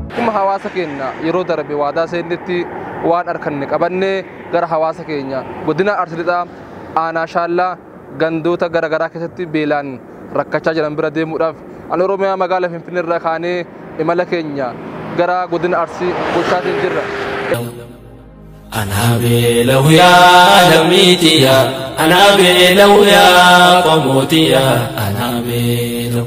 Akkuma hawaasa keenya yeroo darbe waadaa seennetti waan harkanne qabannee gara hawaasa keenya godina Arsii Lixaa aanaa Shaallaa gandoota gara garaa keessatti beelaan rakkachaa jiran bira deemuudhaaf an Oromiyaa magaala Finfinnee irraa kaanee imala keenya gara godina Arsii gochaatiin jirra. Anaa beela'u yaa lammiitiya anaa beela'u yaa qomootiya anaa beela'u.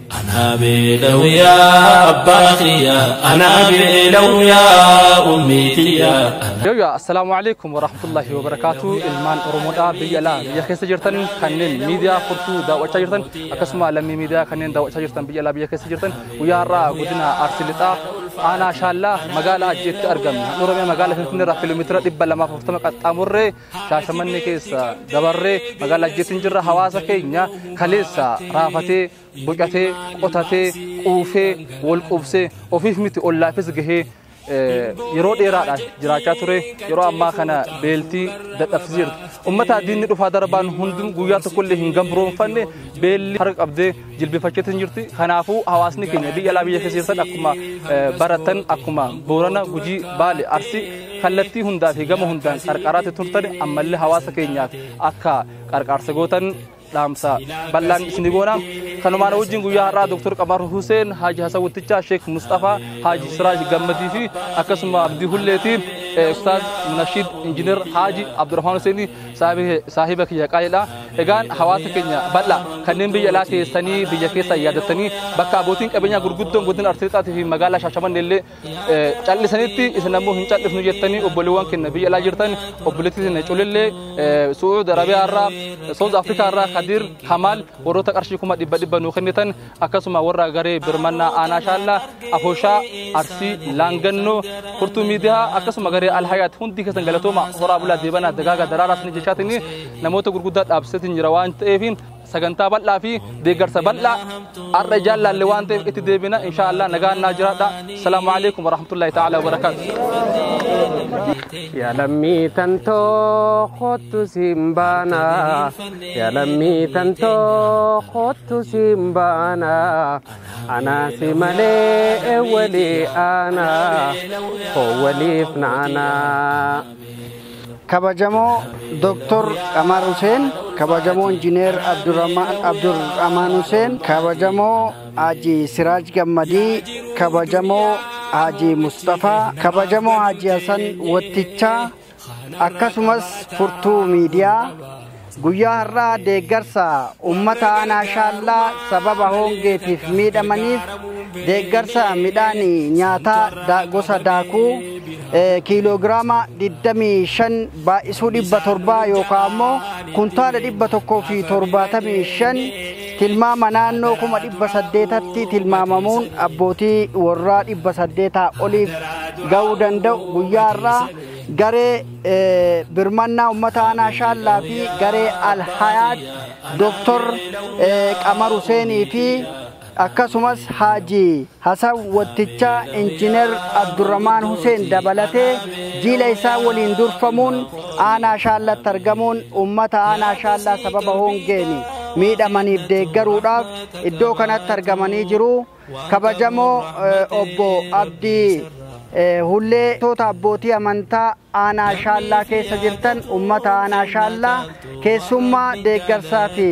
Anaa beela'u yaa abbaa kiyya anaa beela'u yaa ummii tiyya. Yooyya assalaamu alaikum warahmatullahi wabarakaatu ilmaan oromoodha biyya alaa biyya keessa jirtan kanneen miidiyaa furtuu daawwachaa jirtan akkasuma lammii miidiyaa kanneen daawwachaa jirtan biyya alaa biyya keessa jirtan guyyaa har'aa godina arsii lixaa aanaa shaallaa magaalaa ajjeetti argamna oromiyaa magaalaa finfinnee irraa kiiloomeetira dhibba lamaaf afurtama qaxxaamurree Shaashamannee keessa dabarree magaalaa Ajjeetiin jirra hawaasa keenya kaleessa raafatee bocatee qotatee quufee wal quubsee ofiif miti ollaafis gahee yeroo dheeraadhaan jiraachaa ture yeroo ammaa kana beeltii dadhabsiiseerti. Ummata diinni dhufaa darbaan hundum guyyaa tokkollee hin gambroomfanne beelli harka qabdee jilbifachuutti hin jirti. Kanaafuu hawaasni keenya biyya alaa biyya keessa jirtan akkuma baratan akkuma boorana gujii baale arsi kallattii hundaa fi gama hundaan qarqaraatti turtan ammallee hawaasa keenyaaf akka qarqaarsa gootan dhaamsa bal'aan isin goona. Kanumaan wajjin guyyaa har'aa Dr. Qamar Huseen, Haaji Hasan Wittichaa, Sheek Mustafaa, Haaji Siraaj Gammadii fi akkasuma Abdii Hulleetii, Ustaaz Munashiid Injiinar Haaji Abdurrahmaan Huseenii saahiba kiyya qaaliidha. Egaan hawaasa keenya bal'aa kanneen biyya alaa teessanii biyya keessa yaadattanii bakka abbootiin qabeenyaa gurguddoon godina Arsii Lixaatii fi magaalaa Shaashamannee illee callisanitti isin ammoo hin callisnu jettanii obboleewwan keenya biyya alaa jirtan obboleettii keenya culillee Su'uud Arabiyaa irraa Soos Afrikaa irraa Kadir Kamaal warroota qarshii kuma dhibba dhibba nuu kennitan akkasuma warra garee birmannaa aanaa shaallaa afoshaa arsii laangannoo furtuu miidiyaa akkasuma garee alhayaat hundi keessan galatooma horaa bulaa deebanaa dagaaga daraaraas ni jechaatiin namoota gurguddaa dhaabsiseetiin jira waan ta'eef sagantaa bal'aa fi deeggarsa bal'aa har'a ijaan laalle waan ta'eef itti deebina insha Allah nagaan naa jiraadha salaamu alaikum warahmatullahi ta'ala wabarakaatu Yaa lammii tantoo kottu siin baana Ya lammii tantoo kottu siin baana anaa si malee walii aana koo waliif naana. Kabajamoo Dr. Qamar Huseen, kabajamoo Injiineer Abdurrahmaan Huseen, kabajamoo Haji Siraaj Gammadii, kabajamoo Haji Musxafaa, kabajamoo Haji Hasan Wattichaa, akkasumas furtuu miidiyaa guyyaa har'aa deeggarsa ummata aanaa shaallaa sababa hoongeetiif miidhamaniif deeggarsa midhaanii nyaataa da- gosa daakuu eh, kiiloogiraama 25 baay'isuu 700 yookaan ammoo kuntaala 175 tilmaama naannoo 800tti tilmaamamuun abbootii warraa 800 oliif ga'uu danda'u guyyaa har'aa garee birmannaa ummata aanaa shaallaa fi garee alhayaat doktor qamar huseenii fi akkasumas haaji hasan watticha injiinar abdurramaan huseen dabalatee jiila isaa waliin durfamuun aanaa shaallatti argamuun ummata aanaa shaallaa sababa hoongeeni miidhamaniif deeggaruudhaaf iddoo kanatti argamanii jiru. Kabajamoo Obbo Abdii Hullee toota abbootii amantaa aanaa shaallaa keessa jirtan ummata aanaa shaallaa keessummaa deeggarsaa fi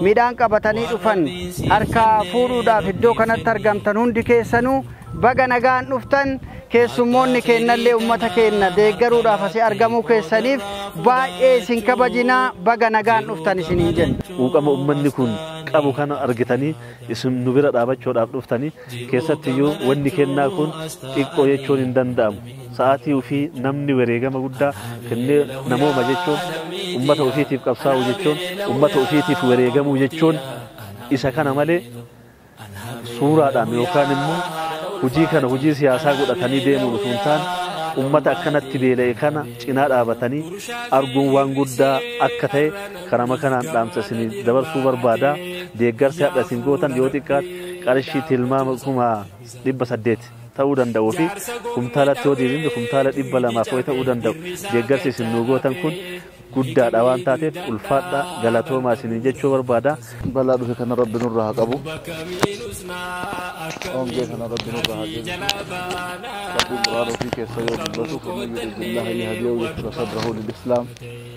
midhaan qabatanii dhufan harkaa fuudhuudhaaf iddoo kanatti argamtan hundi keessanuu baga nagaan dhuftan keessummoonni keennallee ummata keenna deeggaruudhaaf asi argamuu keessaniif baay'ee isin kabajinaa baga nagaan dhuftan isiniin jenna. Quuqama ummanni kun qabu kana argitanii isin nu bira dhaabachuudhaaf dhuftani keessattiyyuu wanni kennaa kun xiqqoo jechuun hin danda'amu sa'aatii ufii namni wareegama guddaa kennee namooma jechuun ummata ufiitiif qabsaa'u jechuun ummata ufiitiif wareegamuu jechuun isa kana malee suuraadhaan yookaan immoo hujii kana hujii siyaasaa godhatanii deemuun utuu hin taane ummata akkanatti beela'e kana cinaa dhaabatanii arguun waan guddaa akka ta'e Karama kanaan dhaamsa isiniif dabarsuu barbaada. Deeggarsi hadha isin gootan yoo xiqqaate qarshii tilmaama kuma dhibba saddeet ta'uu danda'uu fi kumtaalatti yoo deebifne kumtaala dhibba lamaaf ho'i ta'uu danda'u. Deeggarsi isin nuu gootan kun guddaadha waan taateef ulfaadha galatoomaa isiniin jechuu barbaada. Balaa dhufe kana rabbi nurra haa qabu. Hongee kana rabbi nurra haa deebisu. Rabbiin Qur'aana ofii keessa yoo dubbatu faman yuridillaha liyahdiyahu yashra sadrahu lil islaam.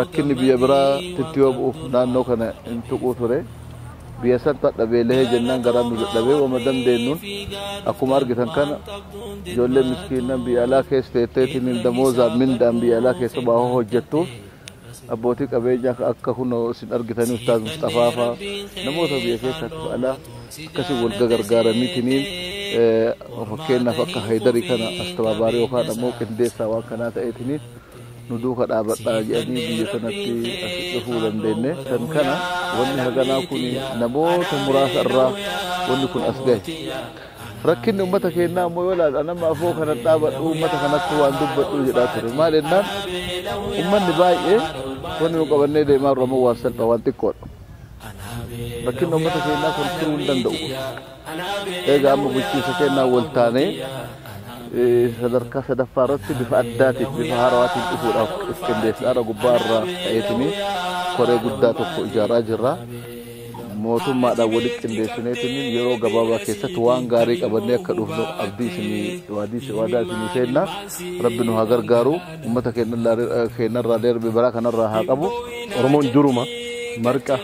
Rakkinni biyya biraa titti yoo bu'uuf naannoo kana hin tuquu ture. Biyya santu hadha beelahee jennaan garaan nu dadhabee wama dandeennuun akkuma argitan kana ijoolleen miskiinnan biyya alaa keessa teetteetiin damoozaan mindaan biyya alaa keessa baahoo hojjettuuf abbootii qabeenyaa ka akka kunoo isin argitanii Ustaaz Musxafaa faa namoota biyya keessaa fi alaa akkasii wal gagargaaraniitiniin fakkeenyaaf akka Haydarii kana astabaabaarii yookaan ammoo qindeessaa waan kanaa ta'eetiniin nu duuka dhaabadhaa jedhanii biyya kanatti asi dhufuu dandeenne kan kana wanni haganaa kun namoota muraasa irraa wanni kun as gahe rakkinni ummata keennaa ammoo yoo ilaalu anamma afoo kana dhaabadhu ummata kanatti waan dubbadhu jedhaa ture maal jennaan ummanni baay'ee wanni nu qabannee deemaa irra ammoo waan salphaa waan xiqqoodha rakkinni ummata keennaa kun turuu hin danda'u Egaa amma bulchiinsa keenyaan wal taanee sadarkaa sadaffaa irratti bifa addaatiin bifa haarawaatiin dhufuudhaaf qindeessaadha gubbaa irraa ta'eetiin koree guddaa tokko ijaaraa jirra. Mootummaadhaan walitti qindeessineetiin yeroo gabaabaa keessatti waan gaarii qabannee akka dhufnu abdii isinii waadii waadaa isinii seenna rabbi nu haa gargaaru uummata keenyarraa darbe baraa kanarraa haa qabu. Oromoon duruma marqa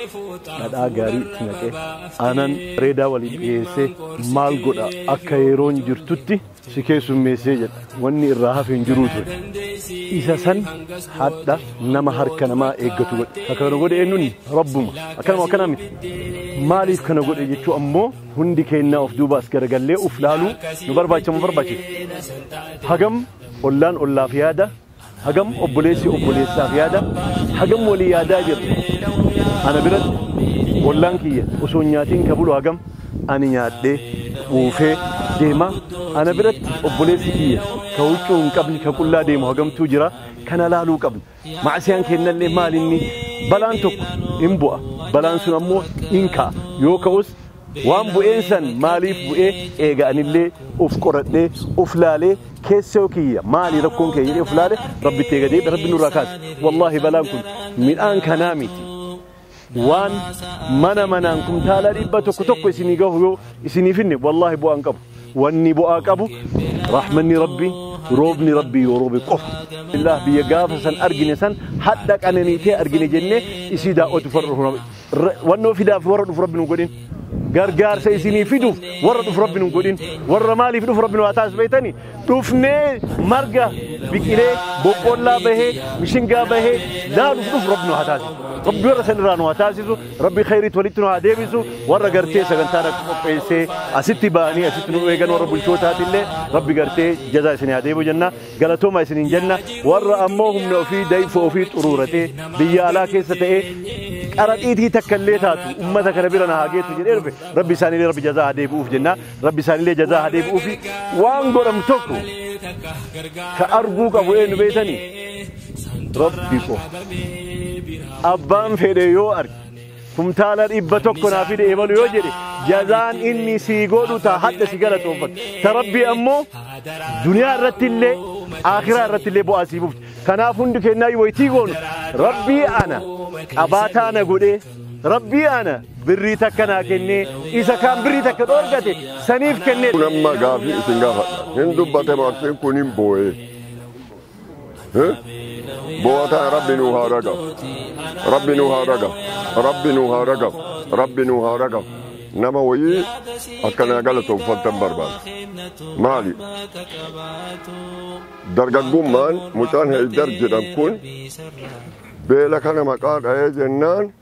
dhadhaa gaarii itti naqee. Aanan reedaa waliin dhiheessee maal godha akka yeroon jirtutti si keessummeessee jedha. Wanni irraa hafe hin jiruu ture. Isa san hadha nama harka namaa eeggatu godhe. Ka kana godhe eenyunni? Rabbuma. Akkanuma akkanaa miti. Maaliif kana godhe jechuu ammoo hundi keennaa of duuba as garagallee uf laaluu nu barbaachisa nu barbaachisa. Hagam ollaan ollaaf yaada Hagam obboleessi obboleessaaf yaada, hagam walii yaadaa jirra? Ana biratti ollaan kiyya osoo hin nyaatiin ka bulu hagam? Ani nyaadhee, quufee, deemaa? Ana biratti obboleessi kiyya ka huccuu hin qabne, ka qullaa deemu hagamtuu jira? Kana laaluu qabna. Ma'asiyaan keennallee maal inni? Balaan tokko hin bu'a. Balaan sun ammoo hin ka'a. Yoo ka'us Waan bu'een san maaliif bu'e eega anillee uf qoradhee uf laalee keessoo kiyya maali rakkoon kiyya jedhee uf laale rabbitti eega deebi'e rabbi nurraa kaase wallaahi balaan kun midhaan kanaa miti waan mana manaan kumtaalaa dhibba tokko tokko isinii gahu yoo isinii finne wallaahi bu'aan qabu wanni bu'aa qabu rahmanni rabbi roobni rabbi yoo roobe qofa illah biyya gaafa san argine san hadha qananiitee argine jennee isii daawwatu farra Ra- wannoo fidaaf warra dhufu rabbi nu godhin gargaarsa isinii fiduuf warra dhufu rabbi nu godhin warra maaliif dhufu rabbi nu haa taasisu beektani dhufnee marga biqilee boqqollaa bahee mishingaa bahee laaluuf dhufu rabbi nu haa taasisu rabbi warra san irraa nu haa taasisu rabbi khayriitti walitti nu haa deebisu warra gartee sagantaa dhaqu qopheessee asitti ba'anii asitti nu eegan warra bulchootaatillee rabbi gartee jazaa isinii haa deebisu jenna Galatooma isiniin jenna warra ammoo humna ofii dayfoo ofii xuruuratee biyya alaa keessa ta'ee qaraxiitii takka illee taatu ummata kana bira na haa geessu jedhee dhufe rabbi isaaniilee rabbi jazaa haa deebi'uuf jenna rabbi isaaniilee jazaa haa deebi'uuf waan godhamu tokko ka arguu qabu eenyu beektanii rabbi qofa abbaan fedhe yoo arge kumtaala dhibba tokko naa fide ebalu yoo jedhe jazaan inni sii godhu taa hadha si galatoonfatu ta rabbii ammoo duniyaa irratti illee aakiraa irratti illee bu'aa sii bufti kanaaf hundi kennaa waytii goonu rabbii ana qabaataa na godhee rabbii ana birrii takka naa kennee isa kaan birrii takka dhoorgate saniif kennee kun amma gaafii isin gaafadha hin dubbate maartiin kun hin boo'ee Boo'a tana rabbi nuu haa ragam. Rabbi nuu haa ragam. Rabbi nuu haa ragam. Rabbi nuu haa ragam. Nama wayii akkanaa galatoomfattan barbaada. Maali? Dargaggummaan mucaan Haydar jedhan kun beela kana maqaa dha'ee jennaan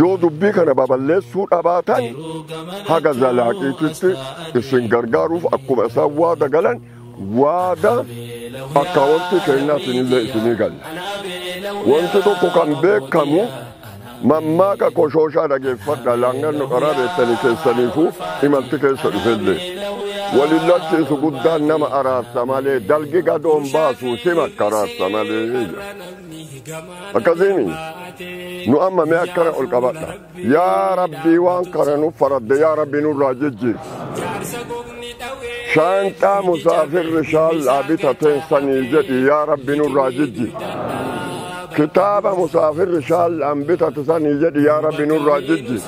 Yoo dubbii kana baballeessuu dhabaatan haga zalaaqiititti isin gargaaruuf akkuma isaan waada galan waada akkaawontii keennaatinillee isinii galla. Wanti tokko kan beekamu mammaaka koshooshaa dhageeffadha laanganno qaraa beektanii keessaniifuu imalti keessa dhufellee. Waliin lolchiisu guddaan nama araarsa malee dalgi gadoon baasu si makkaraarsa malee. akkasiimi nu amma mee akkana ol qabadha yaa rabbii waan kana nu faradde yaa rabbii nurraa jijjiir shaanxaa musaafirri shaallaa bitateen sanii jedhi yaa rabbii nurraa jijjiir kitaaba musaafirri shaallaan bitate sanii jedhi yaa rabbii nurraa jijjiir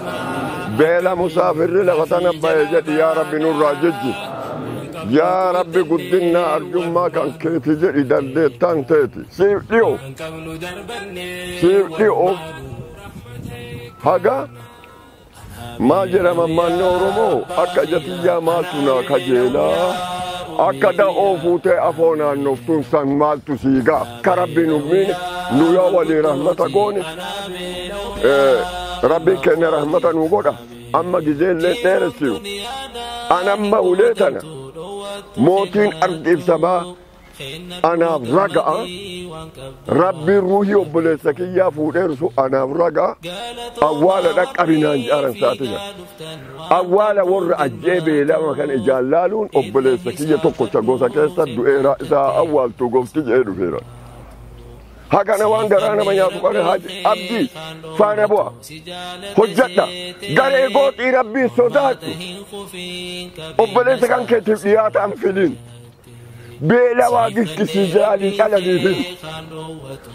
beela musaafirri lafa tana ba'e jedhi yaa rabbii nurraa jijjiir yaa rabbi guddinna arjummaa kan keeti jedhi dandeettaan teeti siif dhiyo siifti of haga maal jedhama manni oromoo akka jatiyyaa maaltu naa kajeelaa akka da'oo fuutee afoo naannoftuun san maaltu siigaa akka rabbi nu miine nu yoo walii rahmata goone rabbiin keenya rahmata nu godha amma gizeellee dheeressinu an amma ulee tana mootiin argiibsamaa anaaf raga'a rabbiin ruuhii obboleessa kiyyaa fuudheeru sun anaaf raga'a awwaala dhaqqabinaan jaaran saatisa awwaala warra ajjee beelama kan ijaan laaluun obboleessa kiyya tokkocha gosa keessa du'eera isaa awwaaltuu gofti jee dhufeera hagana waan garaa nama nyaatu qare haji abdi faana bu'a hojjadha garee gooxii rabbiin sodaadhu obboleessa kan keetiif dhiyaata an filiin beela waa gikkisii jiraanii dhalaniifis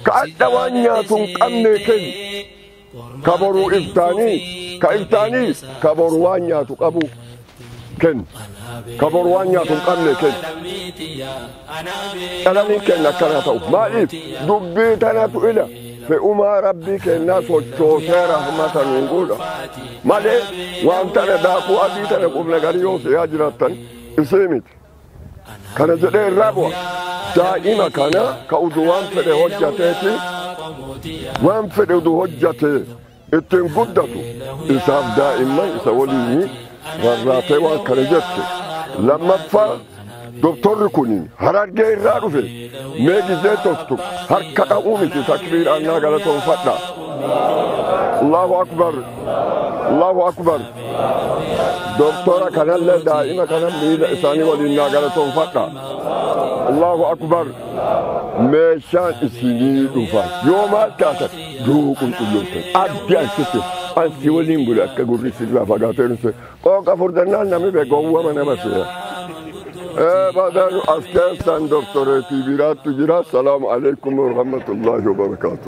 ka adha waan nyaatu hin qabnee kenni ka boruu iftaanii ka iftaanii ka boru waan nyaatu qabu kenni ka boru waan nyaatu hin qabnee kenni dhalanii kenna akkana ta'u maaliif dubbii tanatu ila fe'umaa rabbii kennaa sochoosee rahmata nuun godha malee waan tana daakuu adii tana qubna garii yoo seeyaa jiraattan isii miti kana jedhee irraa bu'a daa'ima kana ka udu waan fedhe hojjateeti waan fedhe udu hojjate ittiin guddatu isaaf daa'imman isa waliin rarraatee waan kana jette lammaffaa doktorri kun harargee irraa dhufe mee gizee toftu harka dha'uu miti takbiiraan naa galatoonfadha allahu akbar allahu akbar doktora kanallee daa'ima kana miila isaanii waliin naa galatoomfadha allahu akbar meeshaan isinii dhufa yoo maal taatan duu qulqullooftan abdi ansitti ansi waliin bule akka gurri sirraa fagaatee dhufte qooqa furdannaan nami bee gowwama nama seera badan as keessan doktoreetii biraattu jira salaamu alaikum warahmatullaahi wabarakaatu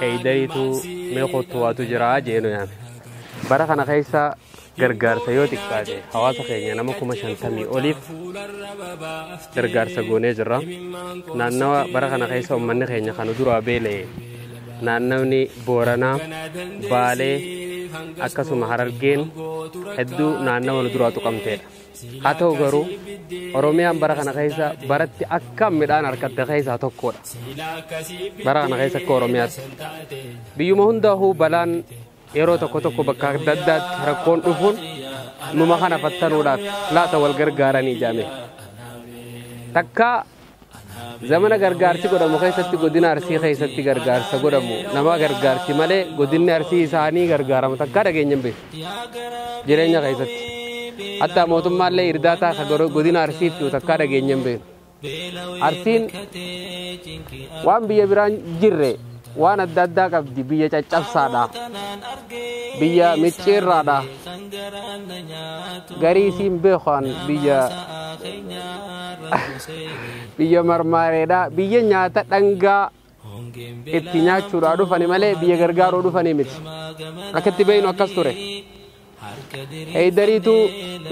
Heeydayitu mee kottu waatu jira jee nu yaame. Bara kana keessa gargaarsa yoo xiqqaate hawaasa keenya nama kuma shantamii oliif gargaarsa goonee jirra. Naannawa bara kana keessa uummanni keenya kan duraa beela'e naannawni Booranaa, Baalee akkasuma Harargeen hedduu naannawa nu duraa tuqamteedha. Haa ta'u garuu Oromiyaan bara kana keessa baratti akka midhaan argatte keessaa tokkodha. Bara kana keessa akka Oromiyaatti. Biyyuma hundaahuu balaan yeroo tokko tokko bakka adda addaatti rakkoon dhufuun numa kana fattanuudhaaf laata wal gargaaranii jaame. Takka Zamana gargaarsi godhamu keessatti godina Arsii keessatti gargaarsa godhamu nama gargaarsi malee godinni Arsii isaanii gargaaramu takkaa dhageenya hin beeku. Jireenya keessatti. Hatta mootummaallee irdaataa ka goro- godina Arsiif jiru takkaa dhageenya hin beeku. Arsiin waan biyya biraan jirre Waan adda addaa qabdi biyya caccabsaadha. Biyya micciirraadha. Garii isiin beekan biyya biyya marmaareedha. Biyya nyaata dhangaa itti nyaachuudhaa dhufani malee biyya gargaaruu dhufanii miti. Akka itti beeknu akkas ture. Heeydariitu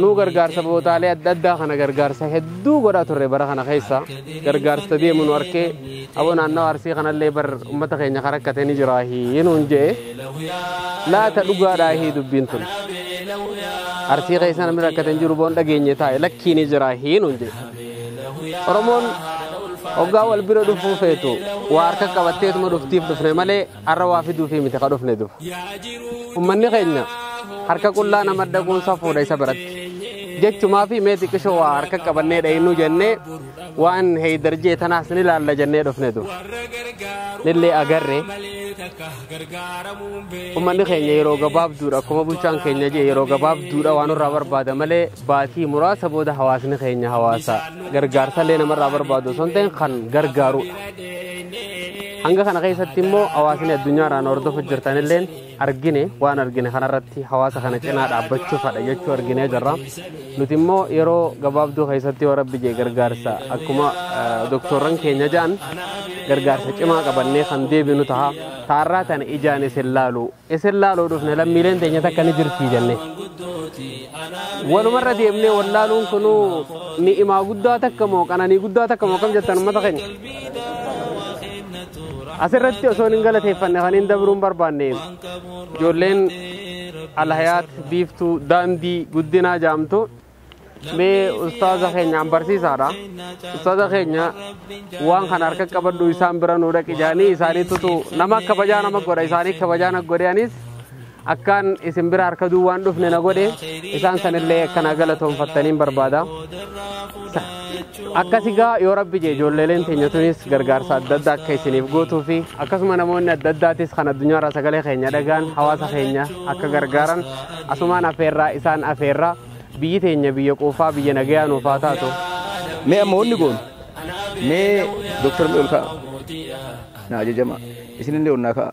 nuu gargaarsa bootaalee adda addaa kana gargaarsa hedduu godhaa turre bara kana keessa gargaarsa deemu nu arkee aboo naannawa arsii kanallee bar ummata keenya kan rakkate ni jira hii nuun je'e laata dhugaadhaa hii dubbiin tun arsii keessa namni rakkate hin jiru boon dhageenye taa'e lakkii ni jira hii nuun je'e oromoon hoggaa wal bira dhufuu feetu waa harka qabatteetuma dhuftiif dhufne malee Har'a waa fiduufii miti ka dhufne duba. Ummanni keenya harka qullaa nama dhaquun safuudha isa biratti. Jechumaa fi mee xiqqishoo waa harka qabannee dhayinuu jennee waan heeydar jee tanaas ni laalla jennee dhufne duba. Nillee agarre ummanni keenya yeroo gabaabduudha akkuma bulchaan keenya jee yeroo gabaabduudha waan irraa barbaada malee baatii muraasa booda hawaasni keenya hawaasa gargaarsallee namarraa barbaadu osoo hin ta'in kan gargaarudha. Hanga kana keessatti immoo hawaasni addunyaa irraa nu hordofaa jirtan illeen argine waan argine kanarratti hawaasa kana cinaa dhaabbachuufadha jechuu arginee jirra. Nuti immoo yeroo gabaabduu keessatti yoo rabbi jee gargaarsa akkuma eh, doktorran keenya ja'an gargaarsa cimaa qabannee kan deebinu taha. Taarraa tana ijaan isin laalu. Isin laaluu dhufne lammiileen teenya takka ni jirti jenne. walumarra deemnee wallaaluun kun ni'imaa guddaa takka moo qananii guddaa takka moo kam jettan ummata keenya asirratti osoo hin galateeffanne kan hin dabruun barbaanne ijoolleen alhayaat biiftuu daandii guddinaa jaamtu mee ustaaza keenyaan barsiisaadha ustaaza keenya waan kana harka qabadhu isaan bira nu dhaqi jaanii isaaniitutu nama kabajaa nama godha isaanii kabajaa na godhe anis Akkaan isin bira harka duwwaan dhufne na godhe isaan sanillee akka naa galatoonfattaniin barbaada. Akkasi gaa yoo rabbi jee ijoolleeleen teenya tunis gargaarsa adda addaa akka isiniif gootuu fi akkasuma namoonni adda addaatis kan addunyaarraa sagalee keenya dhagaan hawaasa keenya akka gargaaran asumaan afeerraa isaan afeerraa biyyi teenya biyya quufaa biyya nagayaa nuuf haa taatu. Mee amma wanni goonu mee dooktar Mi'ool ka'a. Na ajajama. Isinillee onnaa ka'a.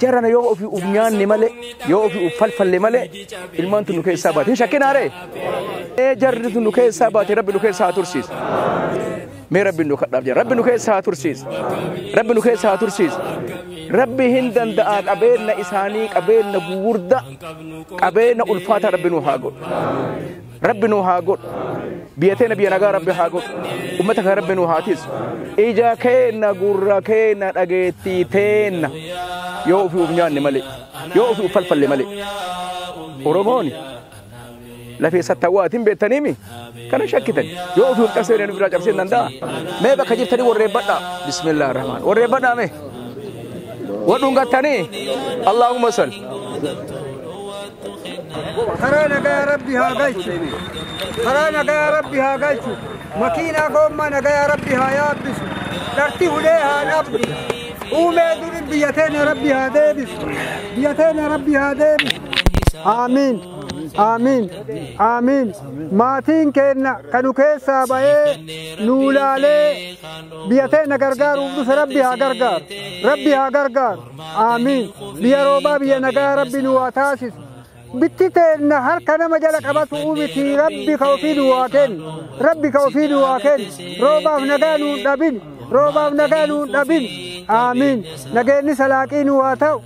Jarana yoo ofi uf nyaanne malee yoo ofi uf falfalle malee ilmaan tun nu keessaa baate. Hin shakkinaa ree? Ee jarri tun nu keessaa baate rabbi nu keessaa haa tursiisu. Mee rabbi nu kadhaaf jira. Rabbi nu keessaa haa tursiisu. Rabbi nu keessaa haa tursiisu. Rabbi hin danda'a qabeenna isaanii qabeenna gugurda qabeenna ulfaataa rabbi nu haa godhu. Rabbi nuu haa godhu. Biyya teena biyya nagaa Rabbi haa godhu. Ummata kan Rabbi nuu haa tiisu. Ija keenna gurra keenna dhageettii teenna yoo ofii of nyaanne malee yoo ofii of falfalle malee. Oromooni lafee sattawwaatiin beektaniimi kana shakkitan yoo ofii of cabsee nu biraa cabsee danda'a. Mee bakka jirtanii warreeffadhaa. Bismillah rahmaan. Warreeffadhaa mee. Wadhuun gattanii. Allahumma salli. karaa nagaa rabbi haa galchu karaa nagaa rabbi haa galchu makiinaa goommaa nagaa rabbi haa yaabbisu dharti hulee haa dhabdu uumee duri biyya teenya rabbi haa deebisu biyya teenya rabbi haa deebisu aamiin aamiin aamiin maatiin keenna kanu keessaa ba'ee nuu laalee biyya teenya gargaaruuf dhufe rabbi haa gargaaru rabbi haa gargaaru Aamiin. Biyya roobaa biyya nagaa rabbi nu haa taasisu. Bitti teenna harka nama jala qabatu miti rabbi ka ofii nu haa kennu. Rabbi ka ofii nu haa kennu. Roobaaf nagaa nu hin dhabin. Roobaaf nagaa nu hin dhabin. Aamiin. Nageenyi salaaqii nu haa ta'u.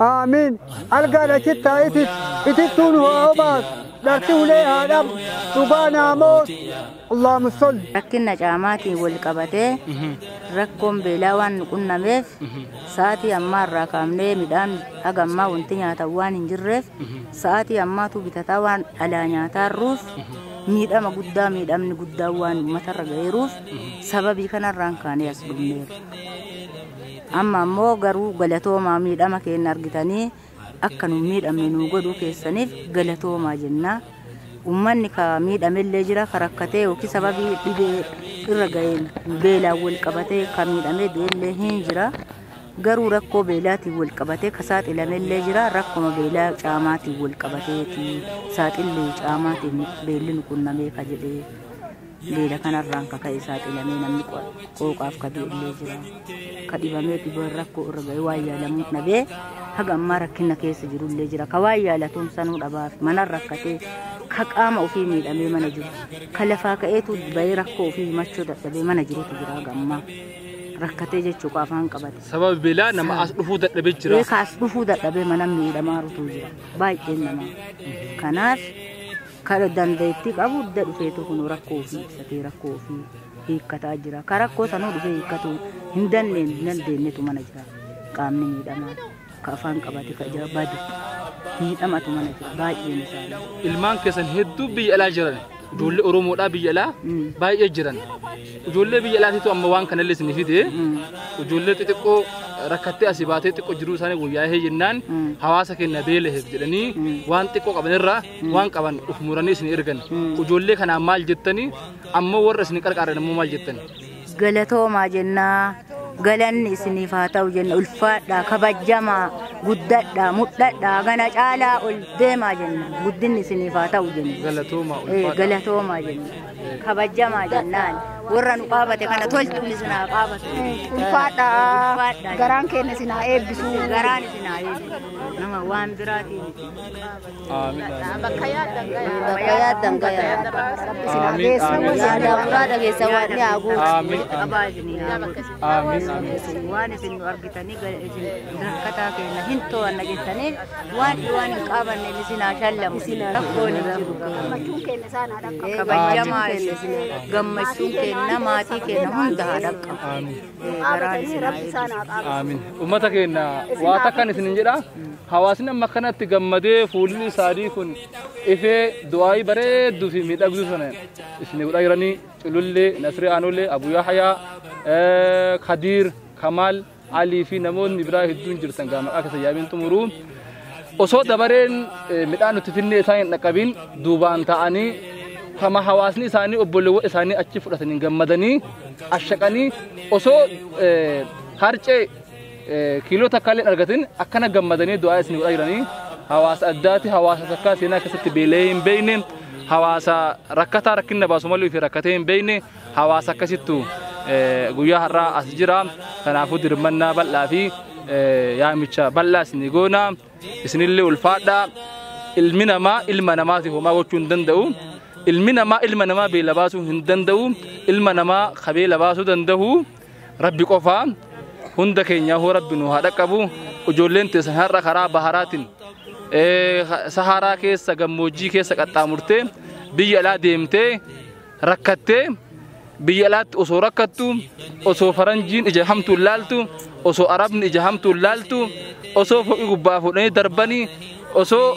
Aamiin. Algaan achitti haa itittu. Itittuu nu haa obaasu. Dharti ulee haa dhabu. Dhugaa naamoos. Allahumma salli. Rakkinna caamaatiin wal qabatee rakkoon beelaa waan nu qunnameef sa'aatii ammaa irraa kaafnee midhaan haga ammaa wanti nyaatan waan hin jirreef sa'aatii ammaatu bitataa waan alaa nyaataa jirruuf miidhama guddaa miidhamni guddaa waan uummatarra ga'eeruuf sababii kanarraan kaanee as dhumneerra. Amma ammoo garuu galatoomaa miidhama keenya argitanii akka nun miidhamne nuu godhuu keessaniif galatoomaa jenna. Uummanni ka miidhamellee jira ka rakkatee yookiin sababii dhibee irra ga'een beelaan wal qabatee ka miidhamee du'ellee hin jira. Garuu rakkoo beelaatiin wal qabatee ka saaxilamellee jira rakkuma beelaa caamaatiin wal qabateeti saaxilli caamaatiin beelli nu qunnamee ka jedhee. Beela kanarraan ka ka'e saaxilamee namni qooqaaf ka du'ellee jira. Ka dhibamee dhiboon rakkoo irra ga'e waan yaalamuun dhabee haga ammaa rakkina keessa jirullee jira. Ka waan yaalatuun sanuu dhabaaf manan rakkatee ka qaama ofii miidhamee mana jiru. Ka lafaa ka'eetu ba'ee rakkoo ofii himachuu dadhabee mana jirutu jira haga ammaa. Rakkatee jechuu qofa afaan qabate. Sababa beelaa nama as dhufuu dadhabee jira. Beekaas dhufuu dadhabee mana miidhamaa rutuu jira. Baay'een namaa. Kanaaf Kan dandeettii qabu hunda dhufeetu kun rakkoo ofii ibsatee rakkoo ofii hiikkataa jira. Kan rakkoo sanuu dhufee hiikkatu hin dandeenye dandeenyetu mana jira. Qaamni miidhamaa ka afaan qabate ka ija badu miidhamatu mana jira baay'een isaanii. Ilmaan keessan hedduu biyya alaa jiran ijoollee Oromoodhaa biyya alaa Mm. baay'ee jiran. Ijoollee biyya alaatiitu amma waan kanallee isin fide Mm. ijoollee xixiqqoo rakkattee asii baatee xiqqoo jiruu isaanii wayyaa'ee jennaan Mm. hawaasa keenya beeleef jedhanii Mm. waan xiqqoo qabanirraa waan qaban uf muranii isin ergan ijoollee kanaa maal jettanii ammoo warra isin qarqaaran ammoo maal jettan galatoomaa jennaa galanni isiniif haa ta'u jenna ulfaadhaa kabajjamaa guddadhaa mudhadhaa gana caalaa ol deemaa jenna guddinni isiniif haa ta'u jenna galatoomaa Eh, ulfaadha galatoomaa jenna kabajjamaa jennaan warra nu qaabate kana tolchuun isin haa qaabatu Ulfaadha. Ulfaadha. Garaan keenya isin haa eebbisu. garaan isin haa eebbisu. nama waan biraatiin Bakka yaaddan gayaa. Bakka yaaddan gayaa. Yaada muraada keessa waan ni haa guutu. Qabaa isin yaa godhu. Waan isin nu argitanii gara isin rakkataa keenya hin to'anna jettaniif waan waan hin qabanne isin haa shallamu. Rakkoon hin jiru. Gammachuun keenya isaan haa dhaqqabu. Kabajamaa isin gammachuun keenya maatii keenya hunda haa dhaqqabu. nu dhaabatanii rabbi isaan haa qaabatu. Aamin. Uummata keenya waa takkan isinin jedha. Hawaasni amma kanatti gammadee fuulli isaanii kun ifee du'aayii bareedduu fi miidhagduu sana isin godhaa jiranii culullee, nasree aanollee, abuyaa hayaa, kadiir, kamaal, alii fi namoonni biraa hedduun jirtan gaama akka sayyaabiin xumuruu. Osoo dabareen midhaan nuti finnee isaan hin dhaqqabiin duubaan ta'anii kama hawaasni isaanii obboleewwan isaanii achi fudhatanii gammadanii ashaqanii osoo harcee kiiloo takka illee argatin akkana gammadanii du'aa isin godhaa jiranii hawaasa addaati hawaasa takkaa seenaa keessatti beela'ee hin beekne hawaasa rakkataa rakkinna baasu malee fi rakkatee hin beekne hawaasa akkasittu guyyaa har'aa as jira kanaafuu dirmannaa bal'aa fi yaamicha bal'aa isinii goona isinillee ulfaadhaa ilmi namaa ilma namaatiif homaa gochuu hin danda'u ilmi namaa ilma namaa beela baasuu hin danda'u ilma namaa ka beela baasuu danda'u rabbi qofaa hunda keenyaa hoo rabbi nu haa dhaqqabu ijoolleen teessan har'a karaa baharaatiin saharaa keessa gammoojjii keessa qaxxaamurtee biyya alaa deemtee rakkattee biyya alaatti osoo rakkattu osoo faranjiin ija hamtuun laaltu osoo arabni ija hamtuun laaltu osoo foqii gubbaa fuudhanii darbanii osoo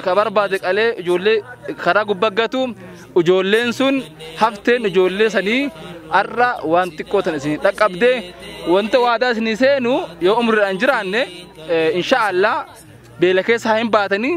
ka barbaade qalee ijoollee karaa gubbaggatu ijoolleen sun hafteen ijoollee sanii har'a waan xiqqoo tan isin dhaqqabde wanta waadaa isinii seenu yoo umriidhaan jiraanne inshaallah beela keessa haa hin baatanii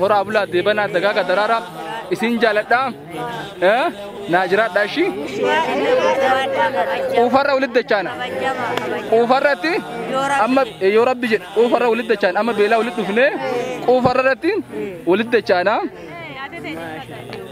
Horaa bulaa deebanaa dagaaga daraaraa isin jaaladhaa eh, naa jiraadhaa ishii quufarra walitti dachaana quufarratti amma eh, yoo rabbi jedhe quufarra walitti dachaana amma beelaa walitti dhufnee quufarra irratti walitti dachaana.